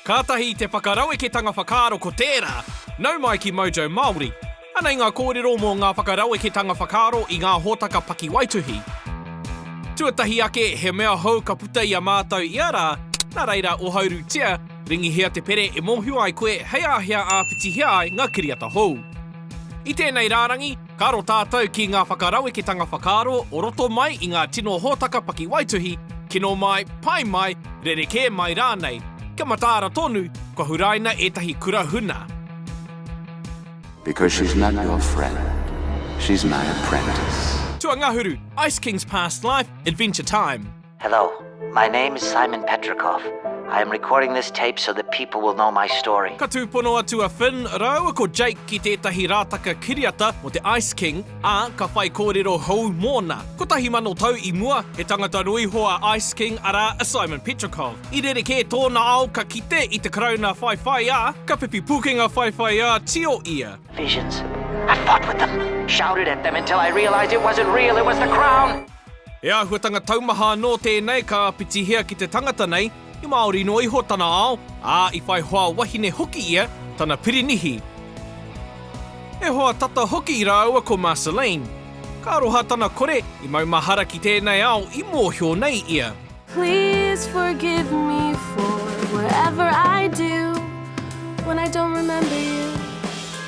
Kātahi i te whakaraweketanga whakaaro ko tērā, nau mai ki Mojo Māori. Anei ngā kōrero mō ngā whakaraweketanga whakaaro i ngā hōtaka pakiwaituhi. Tuatahi ake, he mea hou ka puta i a mātou ia rā, nā reira ohaurutia, ringihia te pere e mōhio ai koe hei āhea āpitihia ai ngā kiriata hou. I tēnei rārangi, Ka aro tātou ki ngā whakaraweketanga whakaaro o roto mai i ngā tino hōtaka pakiwaituhi, kino mai, pai mai, rerekē mai rānei. Kia mataara tonu, kua huraina ētahi kura huna. Because she's not your friend, she's my apprentice. Tuangahuru, Ice King's Past Life, Adventure Time. Hello, my name is Simon Petrikov. I am recording this tape so that people will know my story. Ka tūpono atu a Finn rāua ko Jake ki tētahi rātaka kiriata mō te Ice King, ā, ka whai kōrero hou mōna. Kotahi mano tau i mua, he tangata rūiho a Ice King, arā, a Simon Petrikov. I rerekē tōna ao ka kite i te Karauna whaiwhaiā, ka pipi pūkenga whaiwhaiā tio ia. Visions. I fought with them, shouted at them until I realised it wasn't real, it was the Crown! He āhuatanga taumaha anō tēnei ka āpitihia ki te tangata nei, i Māori noa iho tana ao, ā, i whai hoa wahine hoki ia, tana pirinihi. He hoa tata hoki rāua ko Marceline. Ka aroha tana kore, i maumahara ki tēnei ao i mōhio nei ia. Please forgive me for whatever I do when I don't remember you.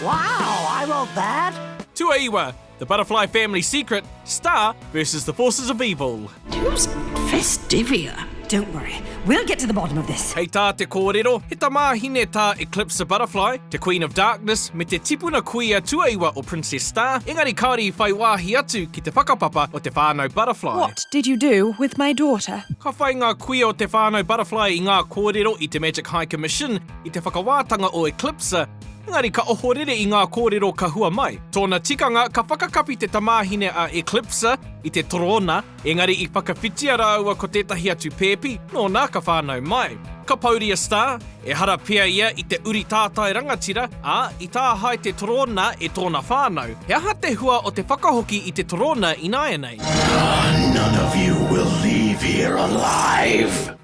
Wow, I wrote that! Tuaiwa, The Butterfly Family Secret, Star versus the Forces of Evil. Who's Festivia? Don't worry, we'll get to the bottom of this. Hei tā te kōrero, he tamāhine tā Eclipse the Butterfly, te Queen of Darkness, me te tipuna kuia tuaiwa o Princess Star, engari kāore i whai wāhi atu ki te whakapapa o te whānau Butterfly. What did you do with my daughter? Ka whai ngā kuia o te whānau Butterfly i ngā kōrero i te Magic High Commission i te whakawātanga o Eclipse, Engari ka ohorere i ngā kōrero ka hua mai. Tōna tikanga, ka whakakapi te tamāhine a Eclipsa i te torōna, engari i whakawhitia rāua ko tētahi atu pēpi, nōna ka whānau mai. Ka pouri a Star, ehara pea ia i te uri tātai rangatira, ā, i tāhae te torōna e tōna whānau. He aha te hua o te whakahoki i te torōna ināianei? None of you will leave here alive!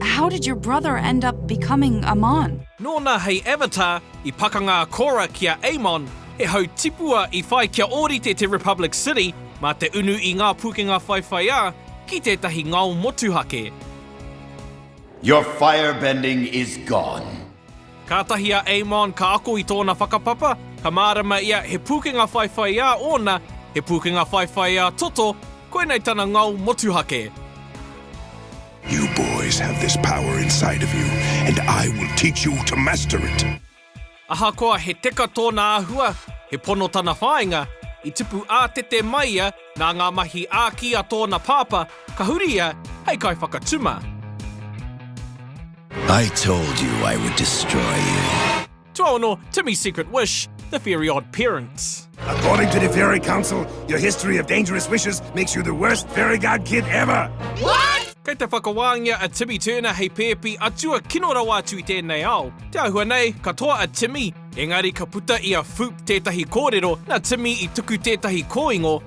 How did your brother end up becoming Amon? Nōna hei avatar i pakanga a Korra ki a Amon, he hau tipua i whai kia ōrite te Republic City mā te unu i ngā pūkenga whaiwhaiā ki tētahi ngao motuhake. Your firebending is gone. Kātahi a Amon ka ako i tōna whakapapa, ka mārama ia he pūkenga whaiwhaiā ōna, he pūkenga whaiwhaiā toto, koinei tana ngao motuhake. You boys have this power inside of you and I will teach you to master it! Ahakoa he teka tōna āhua, he pono tana whāinga, i tupu ātete mai ia nā ngā mahi āki a tōna pāpā, ka huri ia hei kaiwhakatuma. I told you I would destroy you. Tuaono, Timmy's Secret Wish, The Very Odd Parents. According to the Fairy Council, your history of dangerous wishes makes you the worst fairy god kid ever. What? Kei te whakawāngia a Timmy Turner hei pēpi atua kino rawa atu i tēnei ao. Te āhua nei, ka toa a Timmy, engari ka puta i a Foop tētahi kōrero nā Timmy i tuku tētahi kōingo,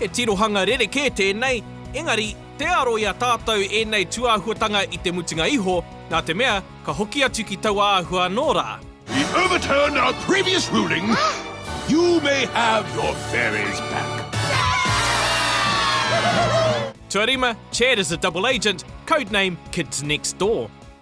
He tirohanga rerekē tēnei, engari, tē aro i a tātou ēnei tūāhuatanga i te mutunga iho, nā te mea, ka hoki atu ki taua āhua anō rā. We overturn our previous ruling, you may have your fairies back. Tuarima, Chad is a double agent, codename Kids Next Door.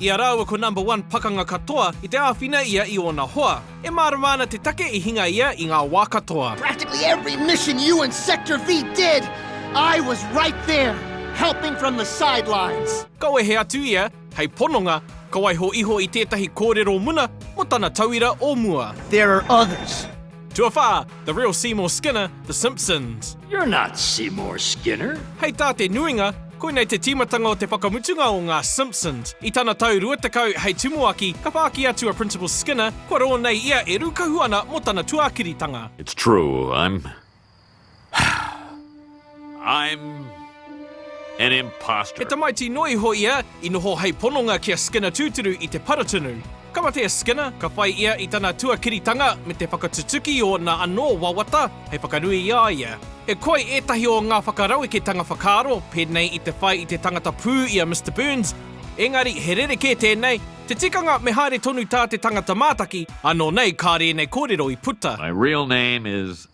I a rāua ko number one pakanga katoa i te āwhina ia i ōna hoa. E mārama ana te take i hinga ia i ngā wā katoa. Practically every mission you and Sector V did, I was right there, helping from the sidelines. Ka wehe atu ia, hei pononga, ka waiho iho i tētahi kōrero muna mō tana tauira o mua. There are others. Tuawhā, The real Seymour Skinner, The Simpsons. You're not Seymour Skinner. Hei tā te nuinga, koinei te tīmatanga o te whakamutunga o ngā Simpsons. I tana tau 20 hei tumuaki, ka whāki atu a Principal Skinner, kua rō nei ia e rūkahu ana mō tana tuākiritanga. It's true, I'm. I'm an imposter. He tamaiti noa iho ia i noho hei pononga ki a Skinner tūturu i te para tunu. Ka mate a Skinner, ka whai ia i tana tuakiritanga me te whakatutuki i ōna anō wawata hei whakanui i a ia. E koi ētahi o ngā whakaraweketanga whakaaro pēnei i te whai i te tangata pū i a Mister Burns, engari he rerekē tēnei, te tikanga me haere tonu tā te tangata mātaki, ānō nei kāre ēnei kōrero i puta. My real name is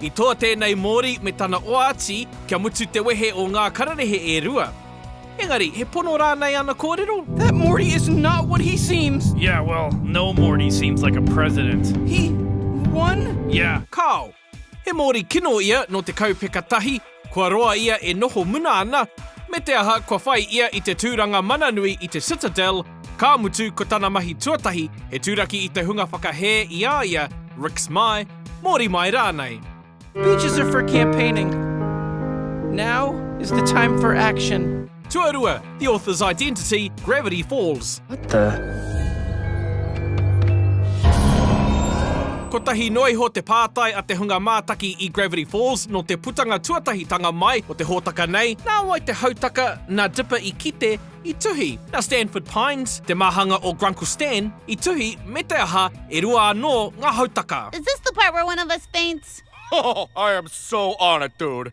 I toa tēnei Māori me tana oati kia mutu te wehe o ngā kararehe e rua. Engari, he pono rānei ana kōrero? That Morty is not what he seems! Yeah, well, no Morty seems like a president. He won? Yeah. Kāo. He Māori kino ia nō te kaupeka tahi. Kua roa ia e noho muna ana, me te aha kua whai ia i te tūranga mana nui i te Citadel, ka mutu ko tana mahi tuatahi he turaki i te hunga whakahē i a ia, Rick's Mai, Mōri Mai rānei. Beaches are for campaigning, now is the time for action. Tuarua, The Author's Identity, Gravity Falls. What the? Kotahi noa iho te pātai a te hunga mātaki i Gravity Falls nō te putanga tuatahitanga mai o te hōtaka nei, nā wai te hautaka nā Dipper i kite, i tuhi, nā Stanford Pines, te māhanga o Grunkle Stan, i tuhi, me te aha, e rua anō ngā hautaka. Is this the part where one of us faints? Oh, I am so on it, dude.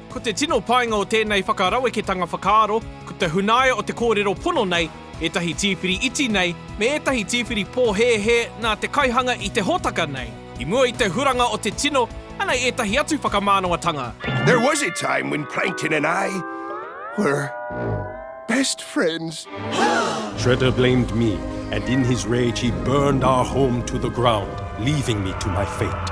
Ko te tino painga o tēnei whakaraweketanga whakaaro, ko te hunaia o te kōrero pono nei, ētahi tīwhiri iti nei, me ētahi tīwhiri pōhēhē nā te kaihanga i te hōtaka nei, i mua i te huranga o te tino, anei ētahi atu whakamānawa-tanga. There was a time when Plankton and I were best friends. Shredder blamed me and in his rage he burned our home to the ground, leaving me to my fate.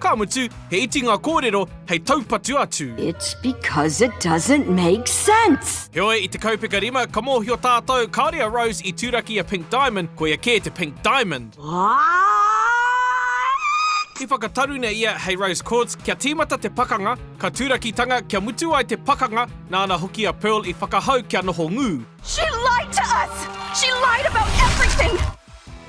Ka mutu, he iti ngā kōrero hei taupatu atu. It's because it doesn't make sense! Heoi, i te kaupeka rima, ka mōhio tātou, kāore a Rose i turaki a Pink Diamond, koia kē te Pink Diamond. What? I whakataruna ia hei Rose Quartz, kia tīmata te pakanga, ka turakitanga kia mutu ai te pakanga, nāna hoki a Pearl i whakahau kia noho ngū. She lied to us! She lied about everything!